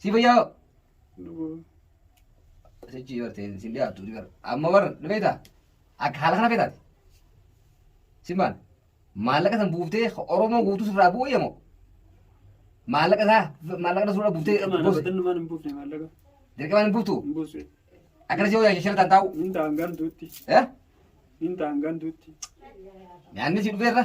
Si fayyaa hoo? Sichi barte sin dhiyaattu ni gara. Amma warra dhufeeta akka haala kana feetaati. Si maal? Maallaqa san buuftee Oromoo guutuu sirraa bu'u yamoo? Maallaqa isaa maallaqa sirraa buuftee gosi. Dirqamaan hin buuftu. Akkana si hojjaa shashalataan taa'u. Eh? Nyaanni si dhufeerra.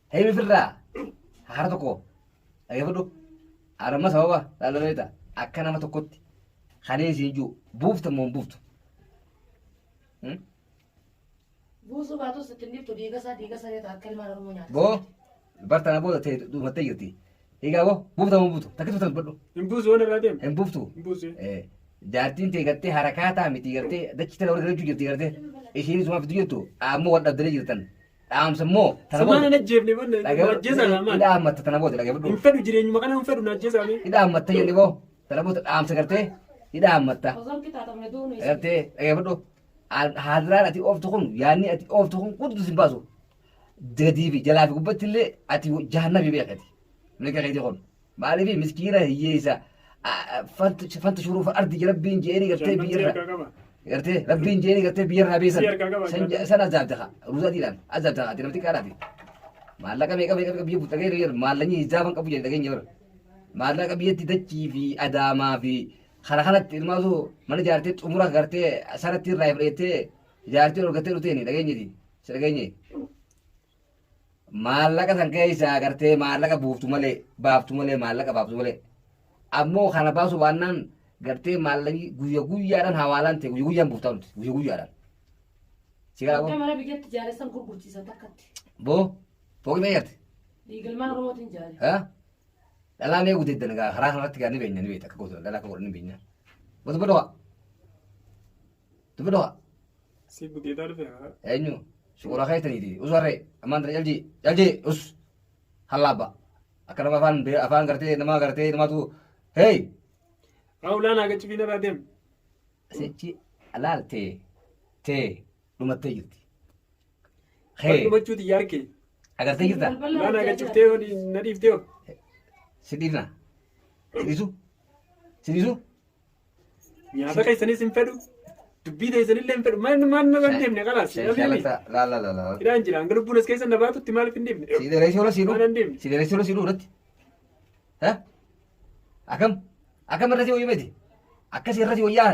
Hei mifirraa hara tokko dhageeffadhu arma sababa laalaleeta akka nama tokkotti kanee isin jiru buufta moo hin buuftu. Hmm? Buusuu baatus itti hin dhiftu diigasaa diigasaa yoo ta'e akka ilmaan Oromoo nyaata. Boo bartaan aboo ta'e dhumattee jirti. Egaa boo buufta moo hin buuftu takkitu tan badhu Hin buusu waan irraa deemu. hin buuftu. Hin buusu. Eh, Jaartiin tee gartee harakaataa miti gartee dachi tana warra galachuu jirti gartee ishiin isumaaf itti jirtu ammoo wal dhabdanii jirtan dhaamsa immoo tana Sabaan booda hin ajjeefne bonna dhaga'u ajjeesaa dha maal? hidhaa ammatta tana booda dhaga'u Hin fedhu jireenyuma kana hin fedhu na ajjeesaa mee. hidhaa ammatta jenne boo tana booda dhaamsa gartee hidhaa ammatta Osoo qixaaxamne duunu isa. gartee dhaga'u haadiraan ati ooftu kun yaanni ati ooftu kun guddus hin baasu gadii fi jalaa fi gubbatti illee ati jahannabii beekati mirga keetii kun Maaliif miskiina hiyyeessa fanta shuruufa ardi rabbiin jeeni gartee biyyarra gartee rabbiin jeeni gartee biyyarraa beesan san azaabde haa ruuzaa diidhaan azaabde haa dinamti qaadhaati maallaqa meeqa meeqa biyya buuta gahee yeroo maallaqni hizaaban qabu jedhe dhageenya bara maallaqa biyyatti dachii fi adaamaa fi kana kanatti ilmaatu mana jaartee xumura gartee sanatti irraa fudhattee jaartee ol gattee dhutee dhageenyiti si dhageenye maallaqa san keessaa agartee maallaqa buuftu malee baaftu malee maallaqa baaftu malee ammoo kana baasu baannaan gartee maallaqni guyya guyyaadhaan hawaalaan ta'e guyya guyyaan buuftaa nuti guyya guyyaadhaan. Si gaafoo Akka mana biyyatti jaaressan gurgurchiisan takkatti. boo fooqii mee jarte Dhiigalmaan Oromootiin jaare. haa dhalaa mee gudeeddan egaa karaa kanarratti gaa ni beekna ni beekta akka gootu dhalaa akka godhan ni beekna. Gosa bodoa. Tufi dhufa. Si buteetaa dhufe haa. Eenyu? Shukuraa keessaniiti. Us warree. Ammaan tana jaljii. Jaljii. Us. Hallaabba. Akka nama afaan bee- afaan gartee nama gartee namatu. Hey! Haa ulaan hagachi fiina irraa deem. Sichi alaal tee. Tee. Dhumattee jirti. Waan Hey! dhumachuu xiyyaa arke. Agartee jirta? Ulaan hagachuftee yoo dhi- na dhiiftee yoo. Si dhiifna. Si dhiisu? Si dhiisu? Nyaata keessanis hin fedhu. Dubbii teessanillee hin fedhu. Maal maal nama hin deemne kalaas. Shan Namni shalata la la la la. hidhaan jira. Hanga lubbuun as keessa na baatutti maaliif hin deemne? Si dheeressi ola si Waan hin deemne. Si dheeressi ola si irratti. Ha? Akam? Akam irra si wayyu miti? Akkas irra si wayyaa?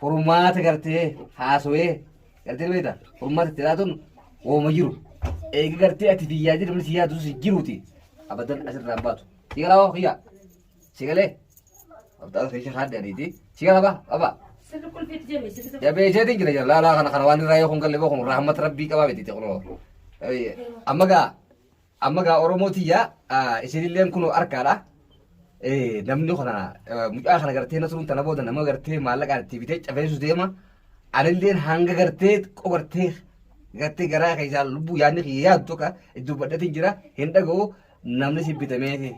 furmaata gartee haasawee gartee beekta furmaata itti laatuun wooma jiru eegi gartee ati biyyaa jiru namni si yaadu si jiruuti abadan asirraa hin baatu si galaa waan kiyyaa si galee abdaan keessa haadde adiiti si galaa baa abaa Sirri qulfiitti jenne sirri tokko. jabee isheetiin jira jira laalaa kana kana waan irraa yoo kun galle boo kun rahmat rabbii qabaa beekti kunoo amma gaa Amma gaa Oromoo tiyya isinilleen kunoo arkaadha. Namni kana mucaa kana gartee nasruun tana booda nama gartee maallaqaan itti bitee cafeessu deema. Anilleen hanga gartee xiqqoo gartee gartee garaa keessaa lubbuu yaadni kiyya yaadu tokko iddoo badhatiin jira hin dhaga'u namni si bitamee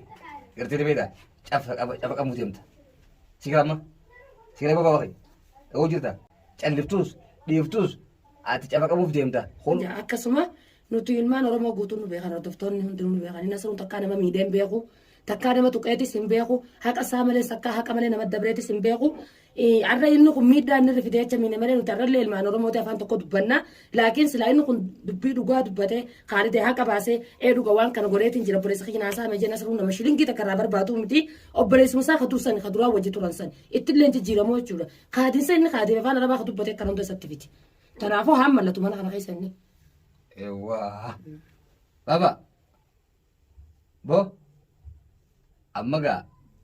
gartee dabeedha cafa qabu deemta. Si gaama si gaama baaba kee dhagoo jirta calliftuus dhiiftuus ati cafa qabuuf deemta. Akkasuma Nuti ilmaan Oromoo guutuun nu beekan hordoftoonni hundinuu nu beekan. Inni asirruun takkaa nama miidhee hin beeku. Takkaa nama tuqeetis hin beeku. Haqa isaa malees takkaa haqa malee nama dabreetis hin beeku. Eh, Har'a inni kun miidhaa inni irra fidee jecha miine malee nuti har'allee ilmaan Oromooti afaan tokko dubbanna. Laakiin silaa inni kun dubbii dhugaa dubbatee kaalidee haqa baasee ee dhuga waan kana godheetiin jira obboleessa kiyya naasaa hame jenna sirruun nama shilingii takka irraa barbaadu miti. Obboleessuma isaa kaduu sani kaduraa wajji turan sani. Ittillee jijjiiramoo jechuudha. Kaadiinsa inni kaadee afaan arabaa ka dubbatee kan hunda isatti fiti. Kanaafuu haa mallatu mana kana keessa inni. Ewwaa. Baba. Bo. Amma gaa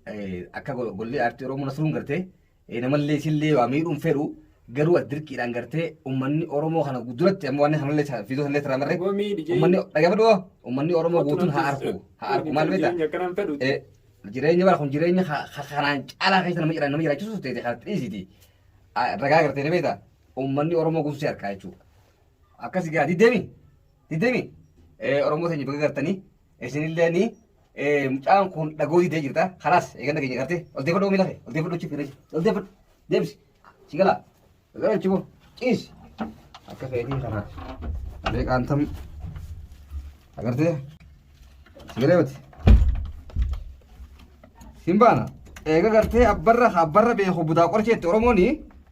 eh, akka go- golli aartii Oromoo nasruun gartee eh, namallee isillee waa miidhuun fedhu garuu as dirqiidhaan gartee uummanni Oromoo kana duratti amma waan kanallee sa- fiidoo sanallee irraa marree Yoo miidhi jee- uummanni dhaggeeffadhu hoo uummanni Oromoo guutuun haa arku haa arku maal beektaa? Jireenya akkanaan fedhu. Eh, jireenya bara kun jireenya ka- ka- kanaan caalaa keessa nama jira- nama jiraachisu ta'e kan dhiisiti. Ah, Ragaa gartee ni beektaa? Uummanni Oromoo guutuu si harkaa jechuudha. Akkasi gaa diddemi diddemi Oromoo teenya baga gartanii isinillee ni mucaan kun dhagoo diddee jirta kalaas eeganna keenya gartee ol deeffadhu oomii lafe ol deeffadhu chiif fireechi ol deeffadhu deebisi si galaa gara chimoo ciisi akka feetii kana alee qaantam agartee si galee miti hin baana eega gartee abbarra abbarra beeku budaa qorcheetti Oromooni